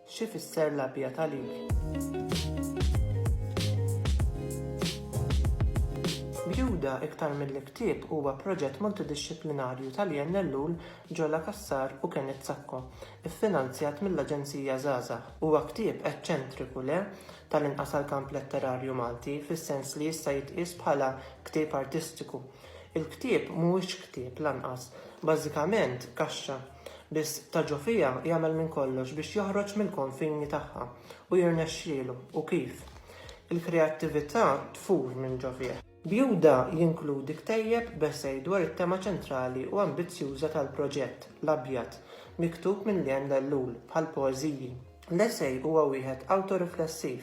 Xi fisser l-abjad għalik? Bjuda iktar milli ktieb huwa proġett multidixxiplinarju ta' Lianne Ellul, Giola Cassar u Kenneth Sacco, iffinanzjat mill-Aġenzija Żgħażagħ. Huwa ktieb eċċentriku, le? Tal-inqas għall-kamp letterarju Malti, fis-sens li jista' jitqies bħala ktieb artistiku. Il-ktieb mhuwiex ktieb, lanqas. Bażikament, kaxxa. Biss ta' ġo fiha jagħmel minn kollox biex joħroġ mill-konfini tagħha u jirnexxielu, u kif? Il-kreattività tfur minn ġo fih. Bjuda jinkludi ktejjeb b'esej dwar it-tema ċentrali u ambizzjuża tal-proġett, l-abjad, miktub minn Leanne Ellul, bħall-poeżiji. L-essej huwa wieħed awtoriflessiv,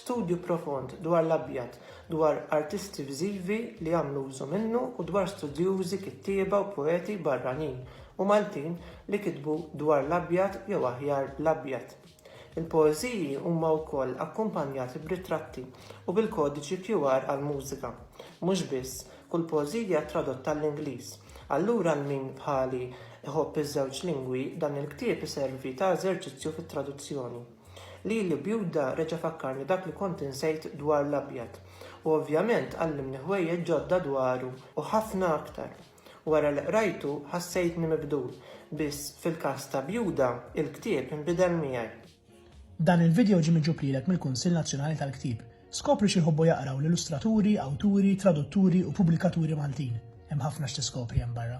studju profond dwar l-abjad, dwar artisti viżivi li għamlu użu minnu u dwar studjużi, kittieba u poeti barranin u Maltin li kitbu dwar l-abjad jew aħjar l-abjad. Il-poeżiji huma wkoll akkumpanjati b'ritratti u bil-kodiċi QR għall-mużika. Mhux biss, Kull poeżija tradotta għall-Ingliż. Allura għal min bħali iħobb iż-żewġ lingwi, dan il-ktieb iservi ta' eżerċizzju fit-traduzzjoni. Lili bjuda reġa' fakkarni dak li kont insejt dwar l-abjad. U ovvjament għallimni ħwejjeġ ġodda dwaru u ħafna aktar. Wara li qrajtu ħassejtni mibdul, biss fil-każ ta' Bjuda, il-ktieb inbidel miegħi. Dan il-vidjow ġie miġjub lilek mill-Kunsill Nazzjonali tal-Ktieb. Skopri xi jħobbu jaqraw l-illustraturi, awturi, tradutturi u pubblikaturi Maltin. Hemm ħafna x'tiskopri hemm barra.